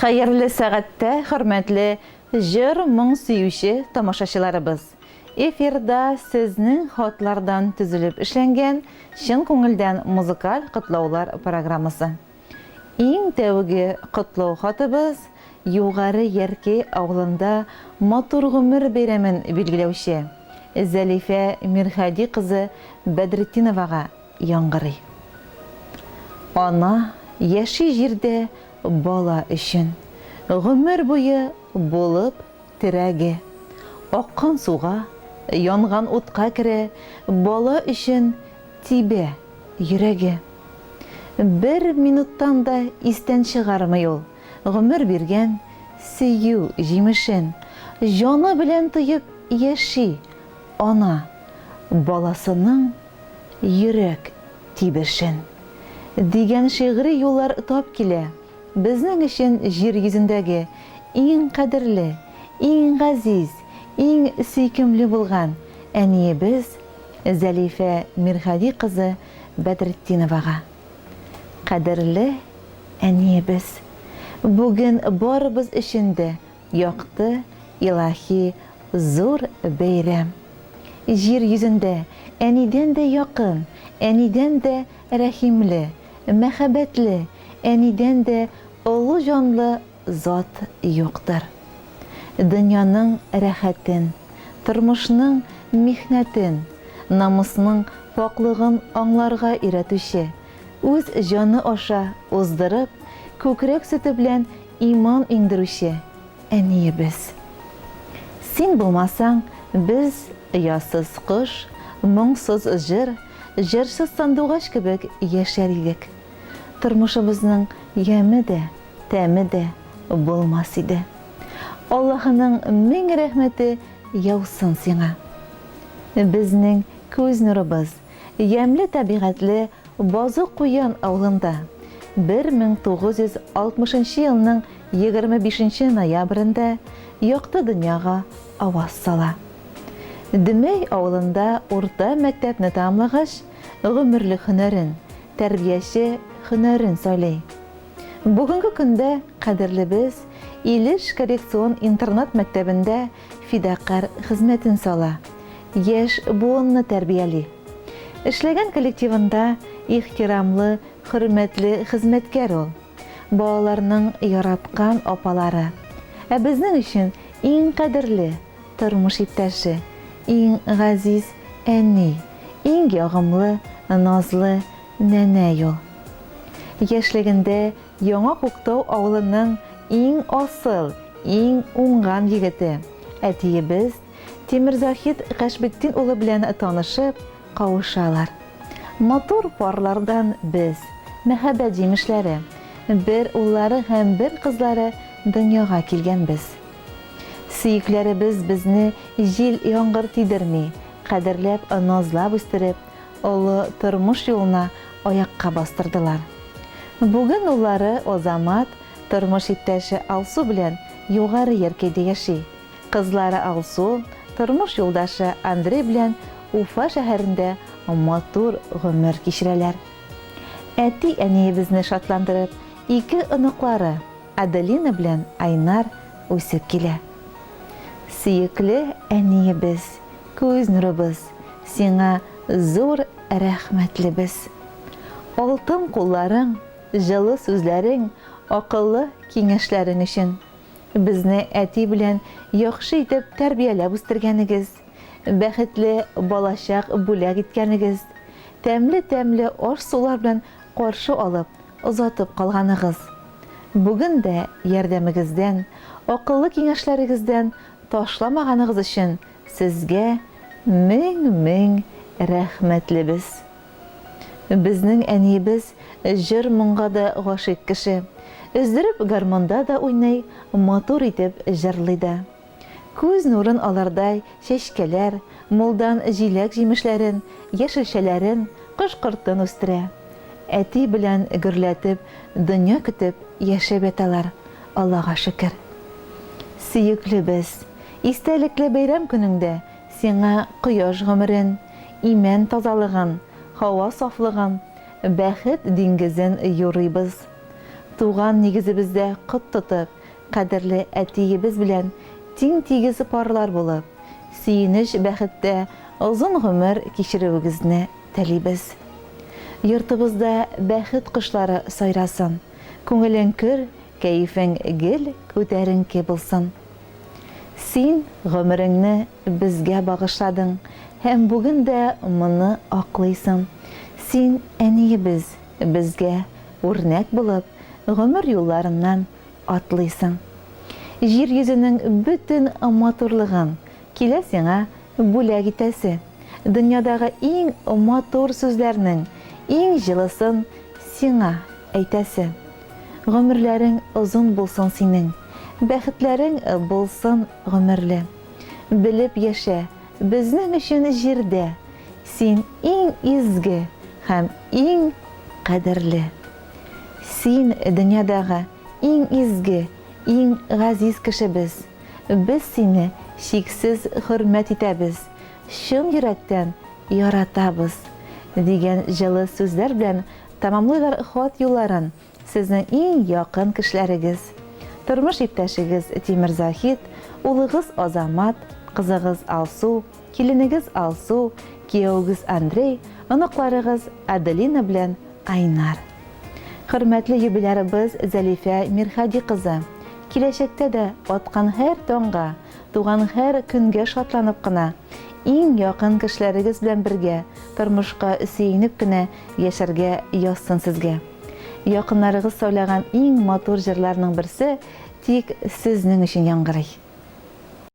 Хәерле сәгатьтә хөрмәтле җыр моң сөюче тамашачыларыбыз! Эфирда сезнең хатлардан төзелеп эшләнгән чын күңелдән музыкаль котлаулар программасы. Иң тәүге котлау хатыбыз Югары Яркәй авылында матур гомер бәйрәмен билгеләүче Зәлифә Мирһади кызы Бәдретдиновага, яңгырый. Ана яши җирдә бала өчен, гомер буе булып терәге. Аккан суга, янган утка керә, бала өчен тибә йөрәге. Бер минуттан да истән чыгармый ул гомер биргән сөю җимешен. Җаны белән тоеп яши ана баласының. Йөрәк тибешен. Дигән шигъри юллар тап килә. Безнең өчен җир йөзендәге иң кадерле, иң газиз, иң сөйкемле булган әниебез Зәлифә Мирһади кызы Бәдретдиновага. Кадерле әниебез! Бүген барыбыз өчен дә Якты, илаһи зур бәйрәм. Җир йөзендә Әнидән дә якын, Әнидән дә рәхимле, мәхәббәтле, Әнидән дә олы җанлы зат юктыр. Дөньяның рәхәтен, тормышның михнәтен, намусның пакълыгын аңларга өйрәтүче, үз җаны аша уздырып, күкрәк сөте белән Иман иңдерүче Әниебез! Син булмасаң, без, оясыз кош, моңсыз җыр, җырчы сандугач кебек яшәр идек. Тормышыбызның яме дә, тәме дә булмас иде. Аллаһының мең рәхмәте яусын сиңа! Безнең күз нурыбыз, ямьле табигатьле Базы Куян авылында 1960 нчы елның 25 нче ноябрендә якты дөньяга аваз сала. Дөмәй авылында урта мәктәпне тәмамлагач, гомерлек һөнәрен, тәрбияче һөнәрен сайлый. Бүгенге көндә кадерлебез Илеш коррекцион интернат мәктәбендә фидакарь хезмәтен сала, яшь буынны тәрбияли. Эшләгән коллективында ихтирамлы, хөрмәтле хезмәткәр ул. Балаларның яраткан апалары. Ә безнең өчен иң кадерле тормыш иптәше, иң газиз әни, иң ягымлы, назлы нәнәй ул. Яшьлегендә Яңа Күктау авылының иң асыл, иң уңган егете, әтиебез Тимерзаһит Гашбетдин улы белән танышып, кавышалар. Матур парлардан без, мәхәббәт җимешләре, бер уллары һәм бер кызлары дөньяга килгәнбез. Сөекләребез безне җил-яңгыр тидерми, кадерләп, назлап үстереп, олы тормыш юлына аякка бастырдылар. Бүген уллары Азамат тормыш иптәше Алсу белән Югары Яркәйдә яши. Кызлары Алсу тормыш юлдашы Андрей белән Уфа шәһәрендә матур гомер кичерәләр. Әти-әниебезне шатландырып, ике оныклары, Аделина белән Айнар үсеп килә. Сөекле әниебез! Күз нурыбыз, сиңа зур рәхмәтлебез. Алтын кулларың, җылы сүзләрең, акыллы киңәшләрең өчен. Безне әти белән яхшы итеп тәрбияләп үстергәнегез, бәхетле балачак бүләк иткәнегез, тәмле-тәмле аш-сулар белән каршы алып, озатып калганыгыз. Бүген дә ярдәмегездән, акыллы киңәшләрегездән ташламаганыгыз өчен Сезгә мең мең рәхмәтлебез! Безнең әниебез җыр-моңга да гашыйк кеше. Өздереп гармунда да уйный, матур итеп җырлый да. Күз нурын алардай чәчкәләр, мулдан җиләк-җимешләрен, яшелчәләрен, кош-кортын үстерә. Әти белән гөрләтеп, дөнья көтеп яшәп яталар, Аллага шөкер. Сөеклебез! Истәлекле бәйрәм көнеңдә сиңа кояш гомерен, имән тазалыгын, һава сафлыгын, бәхет диңгезен юрыйбыз. Туган нигезебездә кот тотып, кадерле әтиебез белән тиң-тигез парлар булып, сөенеч-бәхеттә озын гомер кичерүегезне телибез. Йортыбызда бәхет кошлары сайрасын, күңелең көр, Кәефең гел күтәренке булсын. Син гомереңне безгә багышладың һәм бүген дә моны аклыйсың. Син, әниебез, безгә үрнәк булып, гомер юлларыннан атлыйсың. Җир йөзенең бөтен матурлыгын Килә сиңа бүләк итәсе. Дөньядагы иң матур сүзләрнең иң җылысын сиңа әйтәсе. Гомерләрең озын булсын синең, бәхетләрең булсын гомерле. Белеп яшә, безнең өчен җирдә син иң изге һәм иң кадерле. Син, дөньядагы иң изге, иң газиз кешебез. Без сине чиксез хөрмәт итәбез, чын йөрәктән яратабыз, дигән җылы сүзләр белән тәмамлыйлар хат юлларын сезнең иң якын кешеләрегез, тормыш иптәшегез Тимер Заһит, улыгыз Азамат, кызыгыз Алсу, Киленегез Алсу, киявегез Андрей, оныкларыгыз Аделина белән Айнар. Хөрмәтле юбилярыбыз Зәлифә Мирхади кызы, киләчәктә дә аткан һәр таңга, туган һәр көнгә шатланып кына, иң якын кешеләрегез белән бергә, тормышка сөенеп кенә яшәргә язсын сезгә. Якыннарыгыз сайлаган иң матур җырларның берсе тик сезнең өчен яңгырый.